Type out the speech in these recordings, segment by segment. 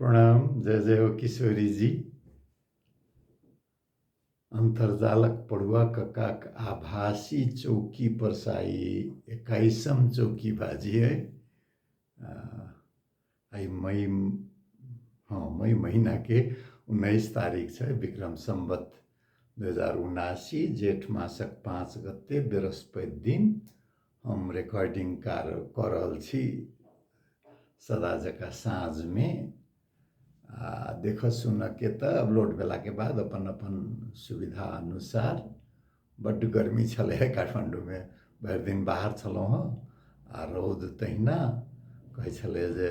प्रणाम जय जय हो किशोरी जी अन्तर्जालक पढ़ुआ ककाक आभासी चौकी परसाई एक्काइसम चौकी बाजी है आई मई हाँ मई महीना के उन्नीस तारीख से विक्रम संबत दू हजार उनासी जेठ मासक पाँच गते बृहस्पति दिन हम रेकॉर्डिंग कार कऽ रहल छी सदा जकाँ साँझमे आ देखऽ सुनऽके तऽ अपलोड भेलाके बाद अपन अपन सुविधा अनुसार बड्ड गर्मी छलै हँ काठमाण्डूमे भरि दिन बाहर छलहुँ हँ आ रौद तहिना कहै छलै जे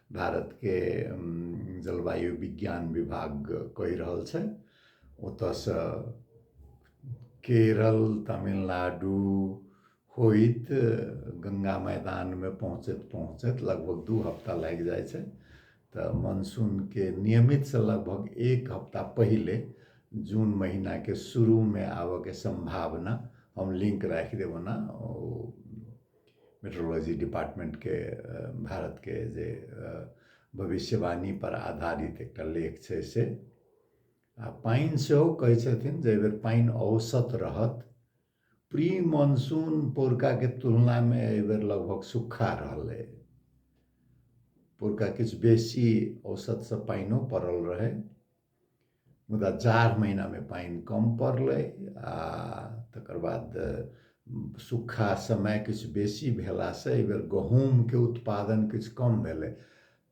भारतके जलवायु विज्ञान विभाग कहि रहल छै ओतयसँ केरल तमिलनाडु होइत गङ्गा मैदानमे पहुँचैत पहुँचैत लगभग दू हफ्ता लागि जाइ छै तऽ मानसूनके नियमितसँ लगभग एक हफ्ता पहिले जून महीनाके शुरूमे आबयके सम्भावना हम लिंक राखि देब ओना ओ मेट्रोलॉजी डिपार्टमेंटके भारतके जे भविष्यवाणी पर आधारित एकटा लेख छै से आ पानि सेहो कहै छथिन जे एहिबेर पानि औसत रहत प्री मानसून पोरकाके तुलनामे एहिबेर लगभग सुखा रहलै पोरका किछु बेसी औसतसँ पानिओ पड़ल रहै मुदा जाड़ महिनामे पानि कम पड़लै आ तकर बाद सुखा समय किछु बेसी भेलासँ एहिबेर गहूँमके उत्पादन किछु कम भेलै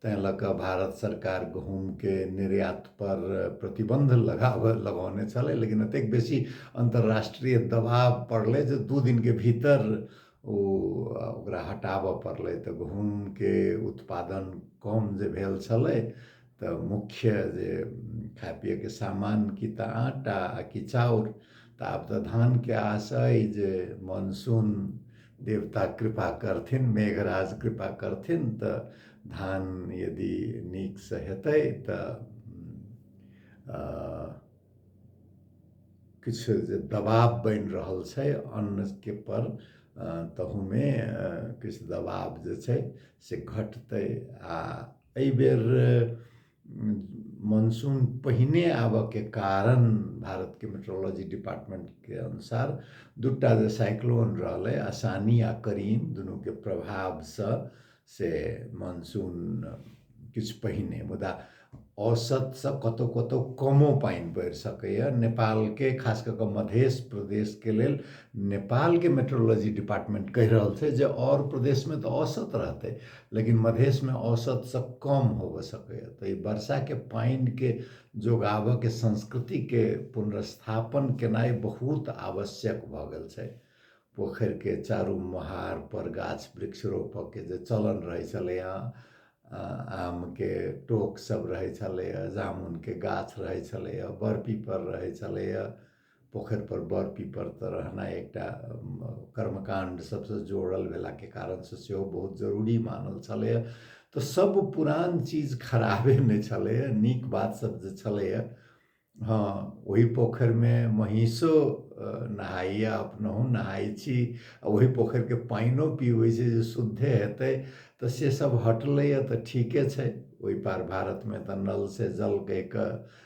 तैँ लऽ कऽ भारत सरकार गहूँमके निर्यातपर प्रतिबन्ध लगाब लगौने छलै लेकिन एतेक बेसी अन्तर्राष्ट्रीय दबाव पड़लै जे दू दिनके भीतर ओ ओकरा हटाबय पड़लै तऽ गहूँमके उत्पादन कम जे भेल छलै तऽ मुख्य जे खाय पियैके सामान कि तऽ आटा आ कि चाउर तऽ आब तऽ धानके आस अइ जे मानसून देवता कृपा करथिन मेघराज कृपा करथिन तऽ धान यदि नीकसँ हेतै तऽ किछु जे दबाव बनि रहल छै अन्नके पर तहूमे किछु दबाव जे छै से घटतै आ एहि बेर मानसून पहिने आबऽके कारण भारतके मेट्रोलॉजी डिपार्टमेंटके अनुसार दूटा जे साइक्लोन रहलै आसानी आ करीम दुनूके प्रभावसँ से मानसून किछु पहिने मुदा औसतसँ कतहु कतहु कमो पानि पड़ि सकैए नेपालके खास कऽ कऽ मध्य प्रदेशके लेल नेपालके मेट्रोलॉजी डिपार्टमेंट कहि रहल छै जे आओर प्रदेशमे तऽ औसत रहतै लेकिन मधेशमे औसतसँ कम होबऽ सकैए तऽ ई वर्षाके पानिके जोगाबऽके संस्कृतिके पुनर्स्थापन केनाइ बहुत आवश्यक भऽ गेल छै पोखरिके चारू महारपर गाछ वृक्ष रोपऽके जे चलन रहै छलैए आमके टोक सब रहै छलैए जामुनके गाछ रहै छलैए बड़पीपर रहै छलैए पोखरि पर बर पीपर तऽ रहनाइ एकटा कर्मकांड सबसँ जोड़ल भेलाके कारणसँ सेहो बहुत जरूरी मानल छलैए तऽ सब पुरान चीज खराबे नहि छलैए नीक बात सब जे छलैए हँ ओहि पोखरिमे महींसो नहाइए अपनहु नहाइ छी आ ओहि पोखरिके पानिओ पीबै छै जे शुद्धे हेतै तऽ से सब हटलैए तऽ ठीके छै ओहि पार भारतमे तऽ नल से जल कहि कऽ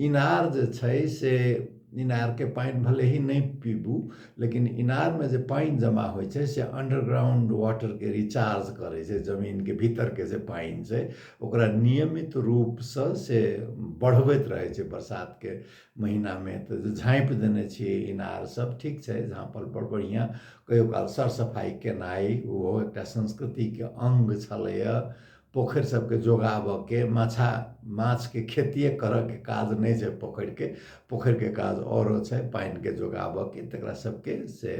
इनार जे छै से इनारके पानि भले ही नहि पीबू लेकिन इनारमे जे पानि जमा होइ छै से अंडरग्राउंड वाटरके रिचार्ज करै छै जमीनके भीतरके जे पानि छै ओकरा नियमित रूपसँ से बढ़बैत रहै छै बरसातके महीनामे तऽ जे झाँपि देने छियै इनार सब ठीक छै झाँपल पर बढ़िआँ कहियो काल सर सफाइ केनाइ ओहो एकटा संस्कृतिके अंग छलैए पोखरि सबके जोगाबऽके माछा माछके खेतिये करऽके काज नहि छै पोखरिके पोखरिके काज आओरो छै पानिके जोगाबऽके तकरा सबके से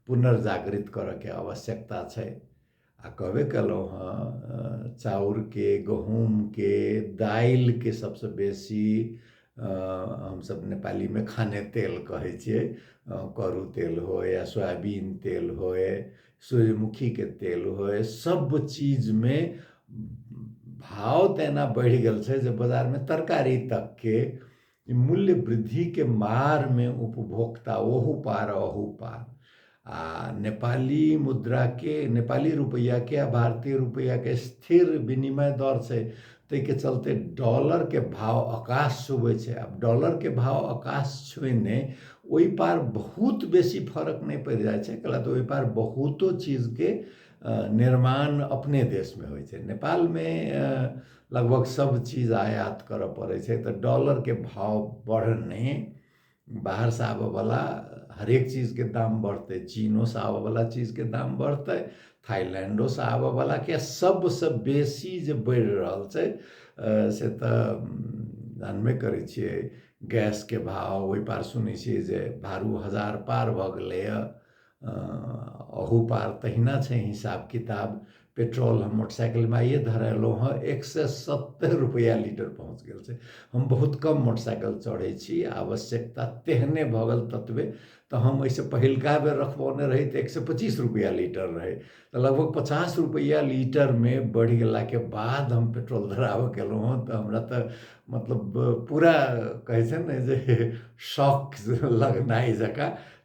पुनर्जागृत करऽके आवश्यकता छै आओर कहबे कयलहुँ हँ चाउरके गहुमके दालिके सबसँ बेसी हमसब नेपालीमे खाने तेल कहय छियै करू तेल होइ या सोयाबीन तेल होइ सूर्यमुखी के तेल हो सब चीज में भाव तेना बढ़ गल से जब बाजार में तरकारी तक के मूल्य वृद्धि के मार में उपभोक्ता ओहू पार अहू पार आ नेपाली मुद्रा के नेपाली रुपया के आ भारतीय रुपया के स्थिर विनिमय दर से ताहिके चलते डॉलरके भाव आकाश छुबै छै आब डॉलरके भाव आकाश छुएने ओहि पार बहुत बेसी फर्क नहि पड़ि जाइ छै कैला तऽ ओहि पार बहुतो चीजके निर्माण अपने देशमे होइ छै नेपालमे लगभग सब चीज आयात करऽ पड़ै छै तऽ डॉलरके भाव बढ़ने बाहरसँ आबयवला हरेक चीजके दाम बढ़तै चीनोसँ आबयवला चीजके दाम बढ़तै थाइलैंडोसँ आबयवला किए सभसँ बेसी जे बढ़ि रहल छै से तऽ जानबे करै छियै गैसके भाव ओहि पार सुनै छियै जे भारू हजार पार भऽ गेलैए अहू पार तहिना छै हिसाब किताब पेट्रोल हम मोटरसाइकिलमे आइए धरेलहुँ हँ एक सए सत्तरि रुपैआ लीटर पहुँच गेल छै हम बहुत कम मोटरसाइकिल चढ़ै छी आवश्यकता तेहने भऽ गेल ततबे तऽ हम एहिसँ पहिलका बेर रखबौने रही तऽ एक सए पच्चीस रुपैआ लीटर रहै तऽ लगभग पचास रुपैआ लीटरमे बढ़ि गेलाके बाद हम पेट्रोल धराबऽ गेलहुँ हँ तऽ हमरा तऽ मतलब पूरा कहै छै ने जे शौक लगनाइ जकाँ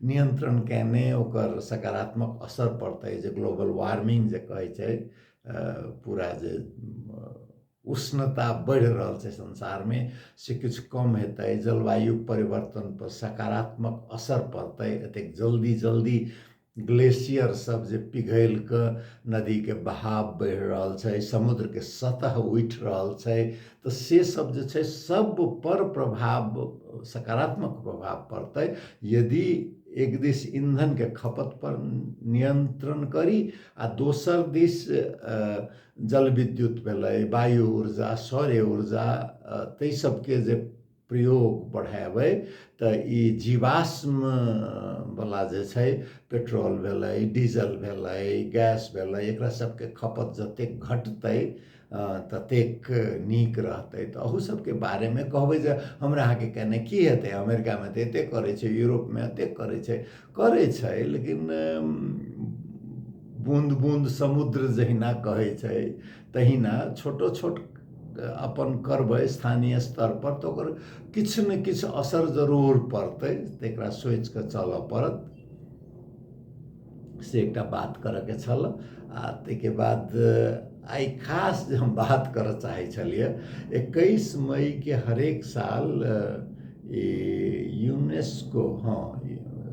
नियन्त्रण कयने ओकर सकारात्मक असर पड़तै जे ग्लोबल वार्मिंग जे कहै छै पूरा जे उष्णता बढ़ि रहल छै संसारमे से किछु कम हेतै जलवायु परिवर्तनपर सकारात्मक असर पड़तै एतेक जल्दी जल्दी ग्लेशियर सब जे पिघलि कऽ नदीके बहाव बढ़ि रहल छै समुद्रके सतह उठि रहल छै तऽ से सब जे छै सब पर प्रभाव सकारात्मक प्रभाव पड़तै यदि एक दिस ईंधनके खपत पर नियन्त्रण करी आ दोसर दिस जलविद्युत भेलै वायु ऊर्जा सौर्य ऊर्जा ताहि सबके जे प्रयोग बढ़ेबै तऽ ई जीवाश्मवला जे छै पेट्रोल भेलै डीजल भेलै गैस भेलै एकरा सबके खपत जतेक घटतै ततेक नीक रहतै तऽ अहू सबके बारेमे कहबै जे हमरा अहाँके केने की हेतै अमेरिकामे तऽ एते करै छै यूरोपमे एते करै छै करै छै लेकिन बूँद बूँद समुद्र जहिना कहै छै तहिना छोटो छोट अपन करबै स्थानीय स्तरपर तऽ ओकर किछु ने किछु असर जरूर पड़तै तकरा सोचि कऽ चलऽ पड़त से एकटा बात करऽके छल आ ताहिके बाद आइ खास जे हम बात करऽ चाहै छलियै एकैस मईके हरेक साल ई यूनेस्को हँ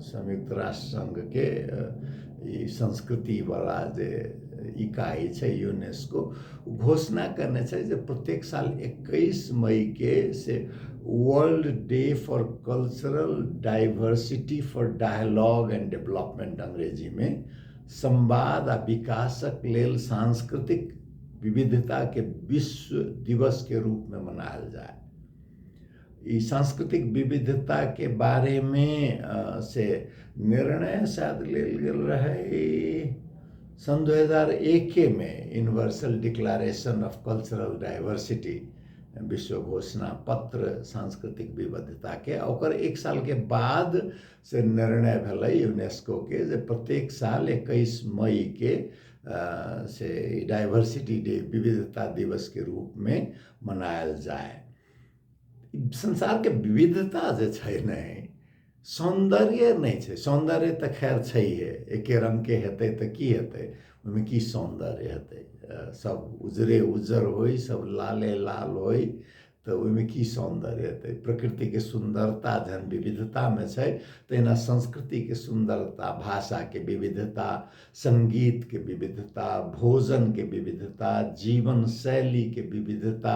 संयुक्त राष्ट्र संघके ई संस्कृतिवला जे इकाइ छै यूनेस्को घोषणा करने छै जे प्रत्येक साल एकैस मईके से World Day for Cultural Diversity for Dialogue and Development अंग्रेजीमे संवाद आ विकासक लेल सांस्कृतिक विविधताके विश्व दिवसके रूपमे मनायल जाय ई सांस्कृतिक विविधताके बारेमे से निर्णय शायद लेल गेल रहै सन् दू हजार एकेमे Universal Declaration of Cultural Diversity विश्व घोषणा पत्र सांस्कृतिक विविधताके ओकर एक सालके बाद से निर्णय भेलै यूनेस्कोके जे प्रत्येक साल एकैस मईके से डाइवर्सिटी डे विविधता दिवसके रूपमे मनायल जाय संसारके विविधता जे छै ने सौन्दर्य नहि छै सौन्दर्य तऽ खैर छैहे एके रङ्गके हेतै तऽ की हेतै ओहिमे की सौन्दर्य हेतै सब उजरे उज्जर होइ सब लाले लाल होइ तऽ ओहिमे की सौन्दर्य हेतै प्रकृतिके सुन्दरता जहन विविधतामे छै तहिना संस्कृतिके सुन्दरता भाषाके विविधता सङ्गीतके विविधता भोजनके विविधता जीवन शैलीके विविधता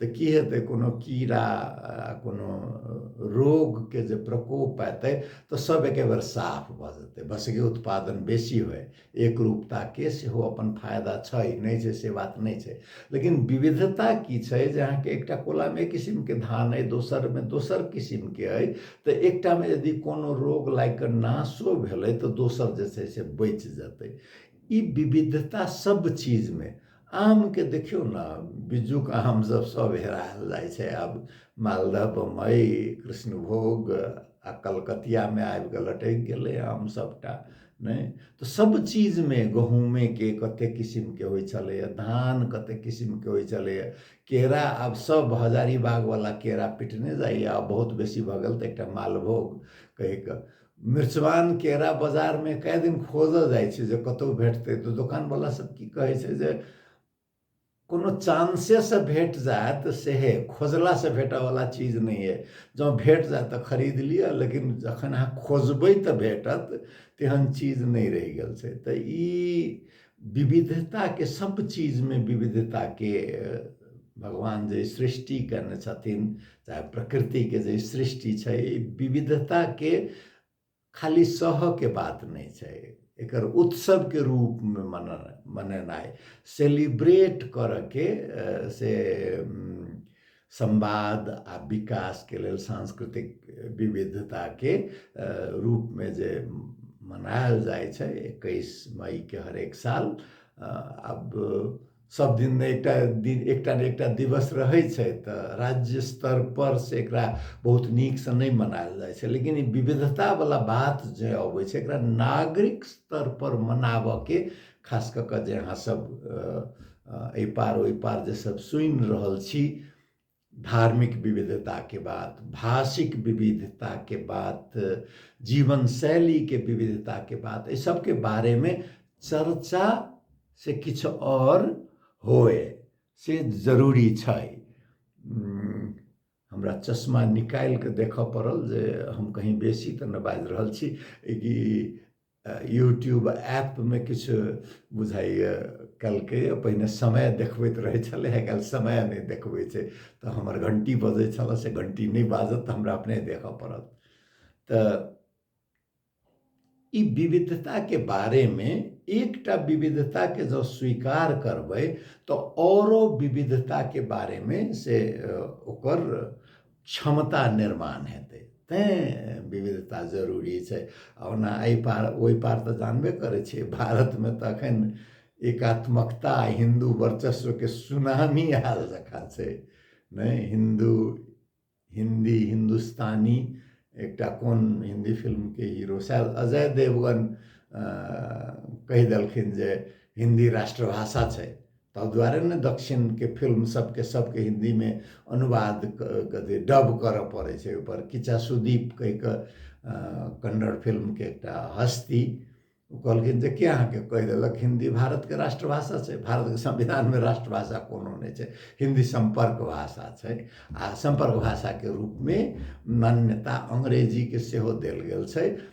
तऽ की हेतै कोनो कीड़ा कोनो रोगके जे प्रकोप एतै तऽ सब एके बेर साफ भऽ जेतै बसके उत्पादन बेसी होइ एक रूपताके सेहो अपन फायदा छै नहि छै से बात नहि छै लेकिन विविधता की छै जे अहाँके एकटा कोलामे एक किसिमके धान अइ दोसरमे दोसर किसिमके अइ तऽ एकटामे यदि कोनो रोग लागि कऽ नाशो भेलै तऽ दोसर जे छै से बचि जेतै ई विविधता सब चीजमे आमके देखियौ ने बिज्जूके आम सब सब हेरायल जाइ छै आब मालदह बम्बइ कृष्णभोग आ कलकतियामे आबि कऽ लटकि गेलै आम सबटा नहि तऽ सब चीजमे गहूँमेके कतेक किसिमके होइ छलैए धान कतेक किसिमके होइ छलैए केरा आब सब हजारीबागवला केरा पिटने जाइए आब बहुत बेसी भऽ गेल तऽ एकटा मालभोग कहि कऽ मृचवान केरा बाजारमे कए दिन खोजऽ जाइ छै जे कतहु भेटतै तऽ दोकानवला सब की कहै छै जे कोनो चांसेसँ भेट जायत तऽ सेहे खोजलासँ भेटऽवला चीज नहि अइ जँ भेट जायत तऽ खरीद लिअ लेकिन जखन अहाँ खोजबै तऽ भेटत तेहन चीज नहि रहि गेल छै तऽ ई विविधताके सब चीजमे विविधताके भगवान जे सृष्टि कयने छथिन चाहे प्रकृतिके जे सृष्टि छै विविधताके खाली सहके बात नहि छै एकर उत्सवके रूपमे मन मनेनाइ सेलिब्रेट करऽके से संवाद आ विकास के लेल सांस्कृतिक विविधता के रूप में जे मनायल जाय छै इक्कीस मई के हर एक साल अब सब दिन ने एकटा दिन एकटा ने एकटा दिवस रहै छै तऽ राज्य स्तर पर से एकरा बहुत नीक से नहि मनायल जाइ छै लेकिन ई विविधता वाला बात जे अबै छै एकरा नागरिक स्तर पर मनाबऽ के खास कऽ कऽ जे अहाँ सब एहि पार ओहि पार जे सब सुनि रहल छी धार्मिक विविधताके बात भाषिक विविधताके बात जीवन शैलीके विविधताके बात एहि सबके बारेमे चर्चा से किछु आओर होए से जरूरी छै हमरा चश्मा निकालि कऽ देखय पड़ल जे हम कहीँ बेसी तऽ नहि बाजि रहल छी कि यूट्यूब ऐपमे किछु बुझाइए कहलकै पहिने समय देखबैत रहै छलै आइ काल्हि समय नहि देखबै छै तऽ हमर घण्टी बजै छलऽ से घण्टी नहि बाजत तऽ हमरा अपने देखऽ पड़त तऽ ई विविधताके बारेमे एकटा विविधताके जँ स्वीकार करबै तऽ औरो विविधताके बारेमे से ओकर क्षमता निर्माण हेतै तैँ विविधता जरूरी छै आ ओना एहि पार ओहि पार तऽ जानबे करै छियै भारतमे तऽ एखन एकात्मकता हिन्दू वर्चस्वके सुनामी आयल जकाँ छै नहि हिन्दू हिन्दी हिन्दुस्तानी एकटा कोन हिन्दी फिल्मके हीरो शायद अजय देवगन कहि देलखिन जे हिन्दी राष्ट्रभाषा छै ताहि दुआरे ने दक्षिणके फिल्म सबके सबके हिन्दीमे अनुवाद कथी डब करऽ पड़ै छै ओहिपर किचा सुदीप कहिके कन्नड़ फिल्मके एकटा हस्ती ओ कहलखिन जे के अहाँके कहि देलक हिन्दी भारतके राष्ट्रभाषा छै भारतके संविधानमे राष्ट्रभाषा कोनो नहि छै हिन्दी सम्पर्क भाषा छै आ सम्पर्क भाषाके रूपमे मान्यता अंग्रेजीके सेहो देल गेल छै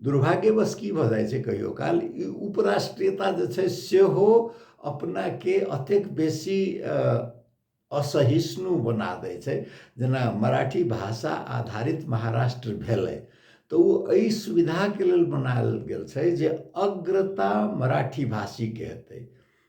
दुर्भाग्यवश की भऽ जाइ छै कहियो काल ई उपराष्ट्रीयता जे छै सेहो अपनाके अतेक बेसी असहिष्णु बना दै छै जेना मराठी भाषा आधारित महाराष्ट्र भेलै तऽ ओ एहि सुविधाके लेल बनायल गेल छै जे अग्रता मराठी भाषीके हेतै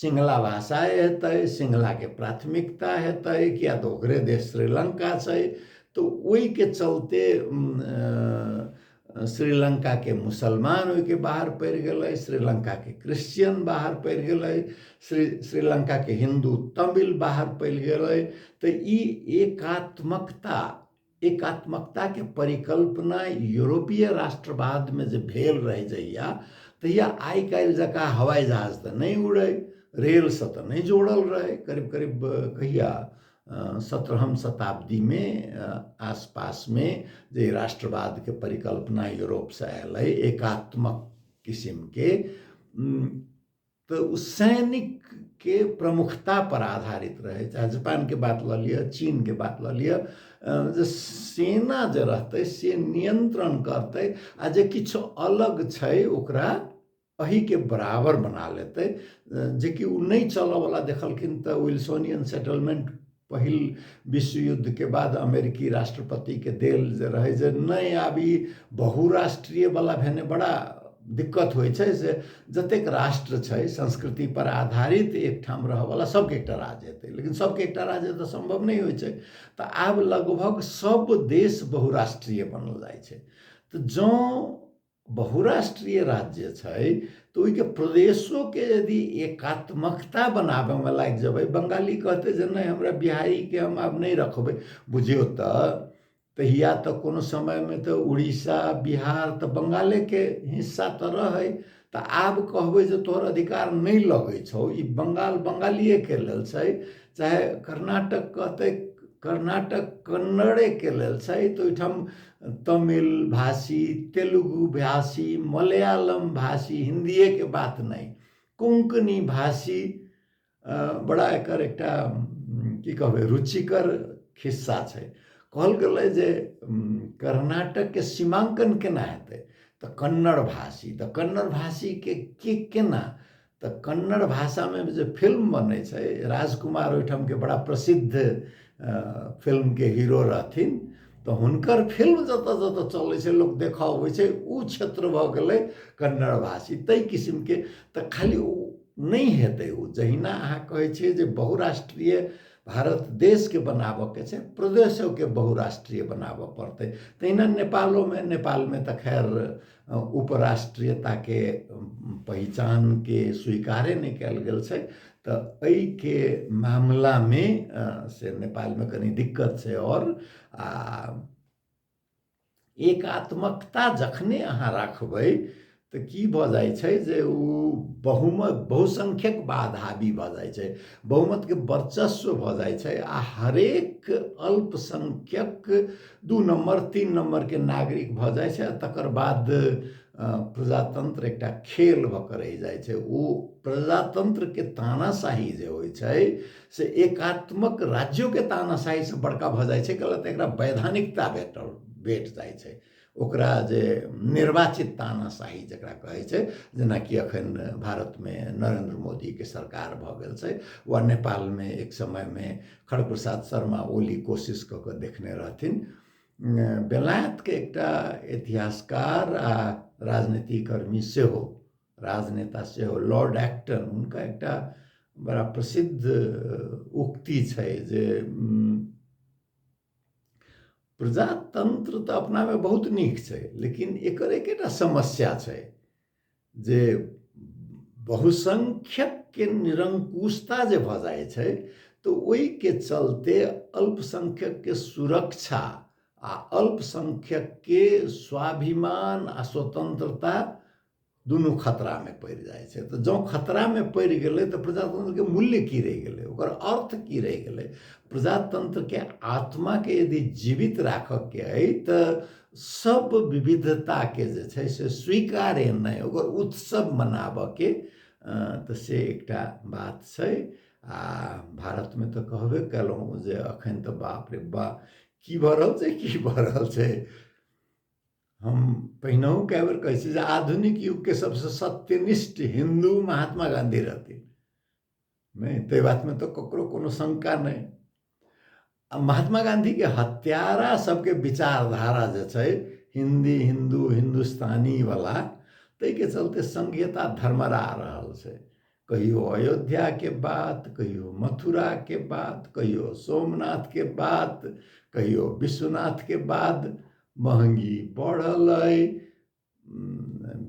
सिंगला भाषा हेतै सिंगलाके प्राथमिकता हेतै किया तऽ ओकरे देश श्रीलङ्का छै तऽ ओहिके चलते श्रीलङ्काके मुसलमान ओहिके बाहर पड़ि गेलै श्रीलङ्काके क्रिश्चियन बाहर पड़ि गेलै श्री श्रीलङ्काके हिन्दू तमिल बाहर पड़ि गेलै तऽ ई एकात्मकता एकात्मकताके परिकल्पना यूरोपीय राष्ट्रवादमे जे भेल रहै जहिया तहिया आइ काल्हि जकाँ हवाई जहाज तऽ नहि उड़ै रेलसँ तऽ नहि जोड़ल रहै करीब करीब कहिया सत्रहम शताब्दीमे आसपासमे जे राष्ट्रवादके परिकल्पना यूरोपसँ आयल अइ एकात्मक किसिमके तऽ ओ सैनिकके प्रमुखतापर आधारित रहै चाहे जापानके बात लऽ लिअ चीनके बात लऽ लिअ जे सेना जे रहतै से नियन्त्रण करतै आ जे किछु अलग छै ओकरा अहीके बराबर बना लेतै जेकि ओ नहि चलयवला देखलखिन तऽ विल्सोनियन सेटलमेंट पहिल विश्व युद्ध के बाद अमेरिकी राष्ट्रपति के देल जे रहै जे नहि आब ई बहुराष्ट्रीय वाला भेने बड़ा दिक्कत होइ छै से जतेक राष्ट्र छै संस्कृति पर आधारित एकठाम रहऽवला सबके एकटा राज्य हेतै लेकिन सबके एकटा राज्य तऽ सम्भव नहि होइ छै तऽ आब लगभग सब देश बहुराष्ट्रीय बनल जाइ छै तऽ जँ बहुराष्ट्रीय राज्य जे छै तऽ ओहिके प्रदेशोके यदि एकात्मकता बनाबैमे लागि जेबै बंगाली कहतै जे नहि हमरा बिहारीके हम आब नहि रखबै बुझियौ तऽ तहिया तऽ कोनो समयमे तऽ उड़ीसा बिहार तऽ बंगालेके हिस्सा तऽ रहै तऽ आब कहबै जे तोहर अधिकार नहि लगै छौ ई बंगाल बंगालिएके लेल छै चाहे कर्नाटक कहतै कर्नाटक कन्नड़ेके लेल छै तऽ ओहिठाम तमिल भाषी तेलुगु भाषी मलयालम भाषी हिन्दिएके बात नहि कोंकणी भाषी बड़ा एकर एकटा की कहबै रुचिकर खिस्सा छै कहल गेलै जे कर्नाटकके सीमाङ्कन केना हेतै तऽ कन्नड़ भाषी तऽ कन्नड़ भाषीके के केना तऽ कन्नड़ भाषामे जे फिल्म बनै छै राजकुमार ओहिठामके बड़ा प्रसिद्ध फिल्मके हीरो रहथिन तऽ हुनकर फिल्म जतऽ जतऽ चलै छै लोक देखऽ अबै छै ओ क्षेत्र भऽ गेलै कन्नड़ भाषी ताहि किसिमके तऽ खाली ओ नहि हेतै ओ जहिना अहाँ कहै छियै जे बहुराष्ट्रीय भारत देशके बनाबऽके छै प्रदेशोके बहुराष्ट्रीय बनाबऽ पड़तै तहिना नेपालोमे नेपालमे तऽ खैर उपराष्ट्रीयताके पहिचानके स्वीकारे नहि कयल गेल छै तऽ एहिके मामलामे से नेपालमे कनि दिक्कत छै आओर आ एकात्मकता जखने अहाँ राखबै तऽ की भऽ जाइ छै जे ओ बहुमत बहुसंख्यक बाद हावी भऽ जाइ छै बहुमतके वर्चस्व भऽ जाइ छै आ हरेक अल्पसंख्यक दू नम्बर तीन नम्बरके नागरिक भऽ जाइ छै तकर बाद प्रजातन्त्र एकटा खेल भऽ कऽ रहि जाइ छै ओ प्रजातन्त्रके तानाशाही जे होइ छै से एकात्मक राज्योके तानाशाहीसँ बड़का भऽ जाइ छै गलत एकरा वैधानिकता भेटल भेट जाइ छै ओकरा जे निर्वाचित तानाशाही जकरा कहै छै जेनाकि एखन भारतमे नरेन्द्र मोदीके सरकार भऽ गेल छै वा नेपालमे एक समयमे खर प्रसाद शर्मा ओली कोशिश कऽ कऽ देखने रहथिन बेलायतके एकटा इतिहासकार आ राजनीतिकर्मी सेहो राजनेता सेहो लॉर्ड एक्टन हुनका एकटा बड़ा प्रसिद्ध उक्ति छै जे प्रजातंत्र तऽ अपनामे बहुत नीक छै लेकिन एकर एकेटा समस्या छै जे बहुसङ्ख्यकके निरङ्कुशता जे भऽ जाइ छै तऽ ओहिके चलते अल्पसङ्ख्यकके सुरक्षा आ अल्पसङ्ख्यकके स्वाभिमान आ स्वतन्त्रता दुनू खतरामे पड़ि जाइ छै तऽ जँ खतरामे पड़ि गेलै तऽ प्रजातन्त्रके मूल्य की रहि गेलै ओकर अर्थ की रहि गेलै प्रजातन्त्रके आत्माके यदि जीवित राखऽके अइ तऽ सब विविधता के जे छै से स्वीकार नहि ओकर उत्सव मनाबऽ के तऽ से एकटा बात छै आ भारत में तऽ कहबे केलहुँ जे अखन तऽ बाप रे बा की भऽ रहल छै की भऽ रहल छै हम पहिनहु कए बेर कहै छी जे आधुनिक युग के सबसे सत्यनिष्ठ हिन्दू महात्मा गाँधी रहथिन नहि ताहि बातमे तऽ ककरो कोनो शंका नहि आ महात्मा गांधीके हत्यारा सबके विचारधारा जे छै हिंदी हिंदू हिंदुस्तानी वाला ताहिके चलते संघीयता धर्मरा रहल छै कहियो अयोध्याके बात कहियो मथुराके बात कहियो सोमनाथके बात कहियो विश्वनाथके बाद महंगी बढ़ल अइ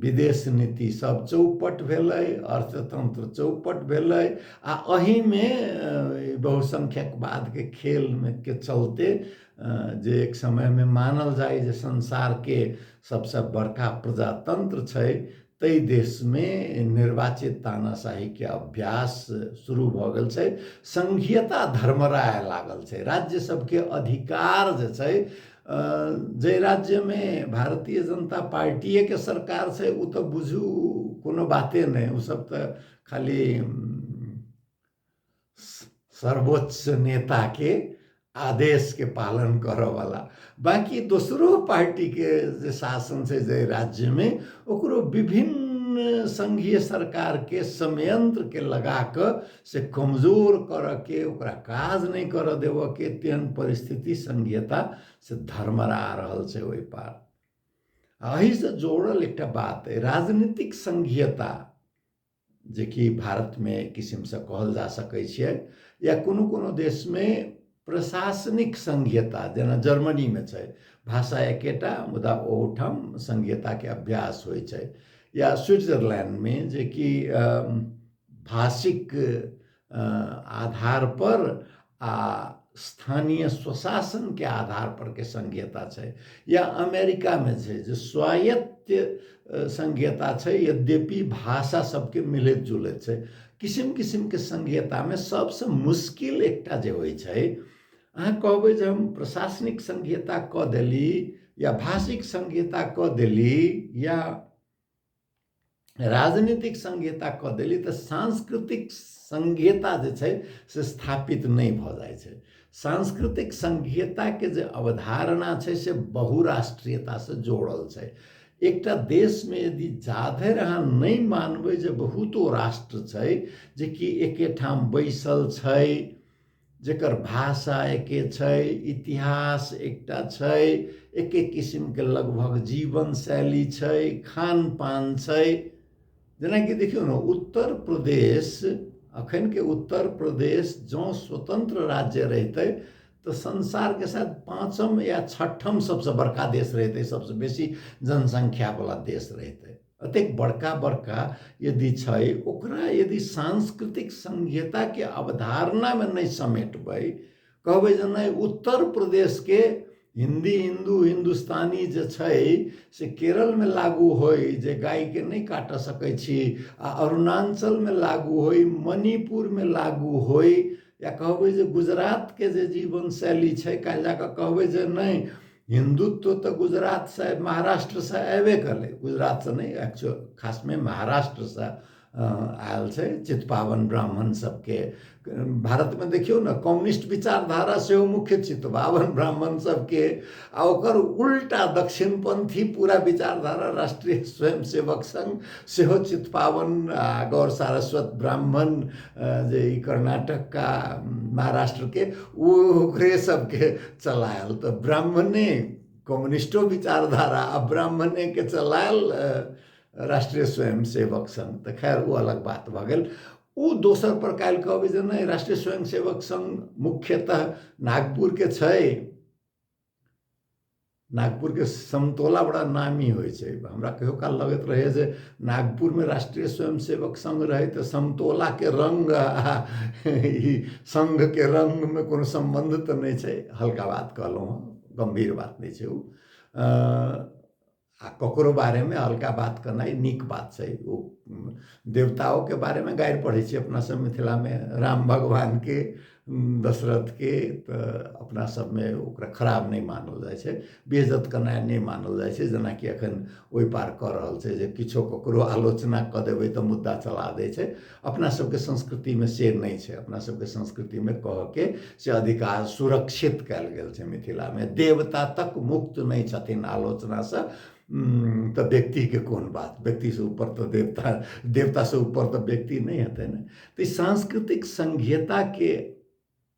विदेश नीति सब चौपट भेलै अर्थतंत्र चौपट भेलै आ एहिमे बहुसंख्यकवादके खेलमे के चलते जे एक समयमे मानल जाय जे संसारके सबसँ बड़का प्रजातंत्र छै ताहि देशमे निर्वाचित तानाशाहीके अभ्यास शुरू भऽ गेल छै संघीयता धर्मराय लागल छै राज्य सबके अधिकार जे छै जाहि राज्यमे भारतीय जनता पार्टिएके सरकार छै ओ तऽ बुझू कोनो बाते नहि ओसभ तऽ खाली सर्वोच्च नेताके आदेशके पालन करऽवला बाँकी दोसरो पार्टीके जे शासन छै जाहि राज्यमे ओकरो विभिन्न सङ्घीय सरकारके संयंत्रके लगा कऽ से कमजोर करऽके ओकरा काज नहि करऽ देबऽके तेहन परिस्थिति संघीयता से धर्मरा रहल छै ओहि पार एहिसँ जोड़ल एकटा बात अइ राजनीतिक संघीयता जेकि भारतमे एक किसिमसँ कहल जा सकै छियै या कोनो कोनो देशमे प्रशासनिक संघीयता जेना जर्मनीमे छै भाषा एकेटा मुदा ओहूठाम संघीयताके अभ्यास होइ छै या स्विट्जरलैंडमे जेकि भाषिक आधारपर आ स्थानीय स्वशासनके आधारपर के संघीयता छै या अमेरिकामे छै जे स्वायत्त संघीयता छै यद्यपि भाषा सबके मिलैत जुलैत छै किसिम किसिमके सङ्घीयतामे सभसँ मुश्किल एकटा जे होइ छै अहाँ कहबै जे हम प्रशासनिक सङ्घीयता कऽ देली या भाषिक सङ्घीयता कऽ देली या राजनीतिक सङ्घीयता कऽ देली तऽ सांस्कृतिक सङ्घीयता जे छै से स्थापित नहि भऽ जाइ छै सांस्कृतिक सङ्घीयताके जे अवधारणा छै से बहुराष्ट्रीयतासँ जोड़ल छै एकटा देशमे यदि जाधरि अहाँ नहि मानबै जे बहुतो राष्ट्र छै जेकि एके ठाम बैसल छै जेकर भाषा एके छै इतिहास एकटा छै एके किसिमके लगभग जीवन शैली छै खानपान छै जेनाकि देखियौ ने उत्तर प्रदेश अखनके उत्तर प्रदेश जँ स्वतन्त्र राज्य रहितै तऽ संसारके साथ पाँचम या छठम सबसँ बड़का देश रहितै सबसँ बेसी जनसङ्ख्यावला देश रहितै एतेक बड़का बड़का यदि छै ओकरा यदि सांस्कृतिक संहिताके अवधारणामे नहि समेटबै कहबै जे नहि उत्तर प्रदेशके हिन्दी हिन्दू हिन्दुस्तानी जे छै से केरलमे लागू होइ जे गायके नहि काटऽ सकै छी आ अरुणाञ्चलमे लागू होइ मणिपुरमे लागू होइ या कहबै जे गुजरातके जे जीवन शैली छै काल्हि जा कऽ कहबै जे नहि हिन्दुत्व तऽ गुजरातसँ महाराष्ट्रसँ अयबे कलै गुजरातसँ नहि एक्चुअल खासमे महाराष्ट्रसँ आयल छै चितपावन ब्राह्मण सबके भारतमे देखियौ ने कम्युनिस्ट विचारधारा सेहो मुख्य चितपावन ब्राह्मण सबके आ ओकर उल्टा दक्षिणपंथी पूरा विचारधारा राष्ट्रीय स्वयंसेवक संघ सेहो चितपावन आ गौर सारस्वत ब्राह्मण जे ई कर्नाटक का महाराष्ट्रके ओ ओकरे सबके चलायल तऽ ब्राह्मणे कम्युनिस्टो विचारधारा आ ब्राह्मणेके चलायल राष्ट्रिय स्वयंसेवक सङ्घ तऽ खैर ओ अलग बात भऽ गेल ओ दोसर पर काल्हि कहबै जे नहि राष्ट्रिय स्वयंसेवक सङ्घ मुख्यतः नागपुरके छै नागपुरके समतोला बड़ा नामी होइ छै हमरा कहियो काल लगैत रहैए जे नागपुरमे राष्ट्रिय स्वयंसेवक सङ्घ रहै तऽ समतोलाके रङ्ग आ ई सङ्घके रङ्गमे कोनो सम्बन्ध तऽ नहि छै हल्का बात कहलहुँ हँ गम्भीर बात नहि छै ओ आ ककरो बारेमे अलगा बात केनाइ नीक बात छै ओ देवताओके बारेमे गारि पढ़ै छी अपनासभ मिथिलामे राम भगवानके दशरथके तऽ अपनासभमे ओकरा खराब नहि मानल जाइ छै बेइज्जत केनाइ नहि मानल जाइ छै जेनाकि एखन ओहि पार कऽ रहल छै जे किछो ककरो आलोचना कऽ देबै तऽ मुद्दा चला दै छै अपना सबके संस्कृतिमे से नहि छै अपना सबके संस्कृतिमे कहऽके से अधिकार सुरक्षित कयल गेल छै मिथिलामे देवता तक मुक्त नहि छथिन आलोचनासँ तऽ व्यक्तिके कोन बात व्यक्तिसँ ऊपर तऽ देवता देवतासँ ऊपर तऽ व्यक्ति नहि हेतै ने तऽ सांस्कृतिक संघीयताके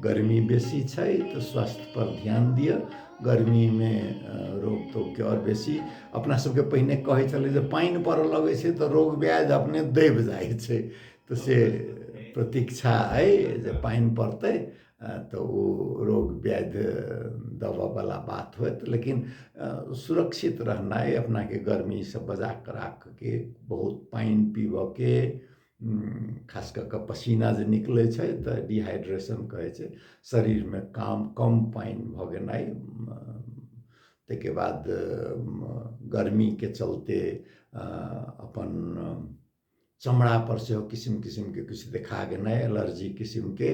गर्मी बेसी छै तऽ स्वास्थ्य पर ध्यान दिअ गर्मीमे रोग तोगके आओर बेसी अपना सबके पहिने कहै छलै जे पानि पड़ऽ लगै छै तऽ रोग ब्याधि अपने दबि जाइ छै तऽ से प्रतीक्षा अइ जे पानि पड़तै तऽ ओ रोग ब्याधि दबऽवला बात होयत लेकिन सुरक्षित रहनाइ अपनाके गर्मीसँ बचा कऽ राखऽके बहुत पानि पीबऽके खास कऽ कऽ पसीना जे निकलै छै तऽ डिहाइड्रेशन कहै छै शरीरमे काम कम पानि भऽ गेनाइ ताहिके बाद गर्मीके चलते अपन चमड़ापर सेहो किसिम किसिमके किछु देखा गेनाइ एलर्जी किसिमके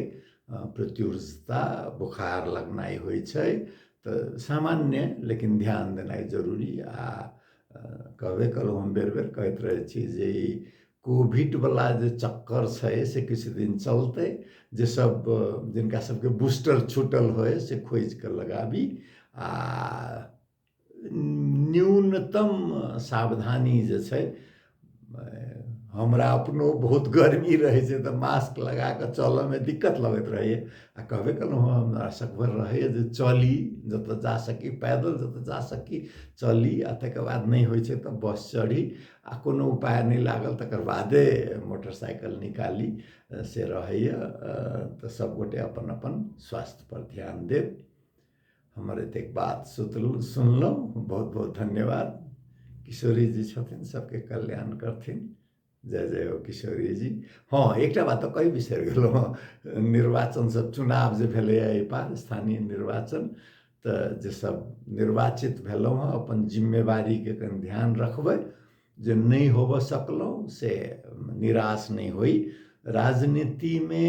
प्रत्युर्जता बोखार लगनाइ होइ छै तऽ सामान्य लेकिन ध्यान देनाइ जरूरी आ कहबे कयलहुँ हम बेर बेर कहैत रहै छी जे ई कोभिडवला जे चक्कर छै से किछु दिन चलतै जे सब जिनका सबके बूस्टर छूटल होइ से खोजि कऽ लगाबी आ न्यूनतम सावधानी जे छै हमरा अपनो बहुत गर्मी रहै छै तऽ मास्क लगा कऽ चलयमे दिक्कत लगैत रहैए आ कहबे केलहुँ हँ हमरा सकभर रहैए जे चली जतय जा सकी पैदल जतय जा सकी चली आ तकर बाद नहि होइ छै तऽ बस चढ़ी आ कोनो उपाय नहि लागल तकर बादे मोटरसाइकिल निकाली से रहैए तऽ सभगोटे अपन अपन स्वास्थ्यपर ध्यान देब हमर एतेक बात सुतलहुँ सुनलहुँ बहुत बहुत धन्यवाद किशोरी जी छथिन सभके कल्याण करथिन जय जय हो किशोरी जी हँ एकटा बात तऽ कहि बिसरि गेलहुँ हँ निर्वाचन सब चुनाव जे भेलैए एहि पार स्थानीय निर्वाचन तऽ जे सब निर्वाचित भेलहुँ हँ अपन जिम्मेवारीके कनि ध्यान रखबै जे नहि होबऽ सकलहुँ से निराश नहि होइ राजनीतिमे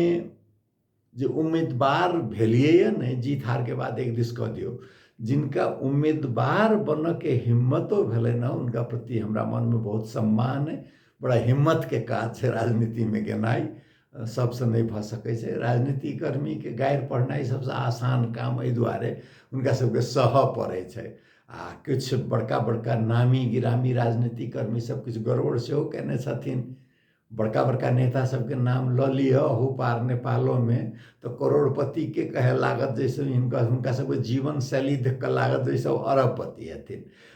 जे उम्मीदवार भेलियैए नहि जीत हारके बात एक दिस कऽ दियौ जिनका उम्मीदवार बनऽके हिम्मतो भेलनि हँ हुनका प्रति हमरा मनमे बहुत सम्मान अइ बड़ा हिम्मतके काज छै राजनीतिमे गेनाइ सभसँ नहि भऽ सकै छै राजनीतिक कर्मीके गारि पढ़नाइ सभसँ आसान काम एहि दुआरे हुनका सभके सहऽ पड़ै छै आ किछु बड़का बड़का नामी गिरामी राजनीतिक कर्मी सभ किछु गड़बड़ सेहो कयने छथिन बड़का बड़का नेता सभके नाम लऽ लिअ अहू पार नेपालोमे तऽ करोड़पतिके कहय लागत जैसे हिनका हुनका सभके जीवन शैली देखि कऽ लागत जैसे ओ अरबपति हेथिन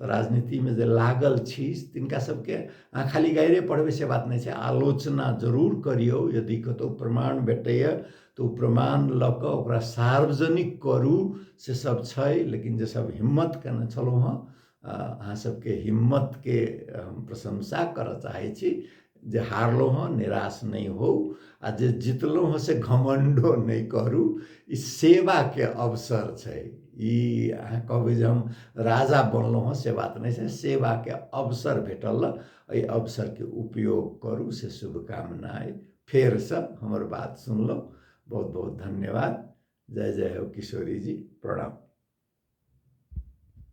तऽ राजनीतिमे जे लागल छी तिनका सबके अहाँ खाली गाइरे पढ़बै से बात नहि छै आलोचना जरूर करियौ यदि कतहु प्रमाण भेटैए तऽ ओ प्रमाण लऽ कऽ ओकरा सार्वजनिक करू से सब छै लेकिन जे सब हिम्मत केने छलहुँ हँ अहाँ सबके हिम्मतके हम प्रशंसा करऽ चाहै छी जे हारलहुँ हँ निराश नहि होउ आ जे जितलहुँ हँ से घमण्डो नहि करू ई सेवाके अवसर छै ई अहाँ कहबै जे हम राजा बनलहुँ हँ से बात नहि छै सेवाके अवसर भेटल एहि अवसरके उपयोग करू से शुभकामना अइ फेरसँ हमर बात सुनलहुँ बहुत बहुत धन्यवाद जय जय हो किशोरी जी प्रणाम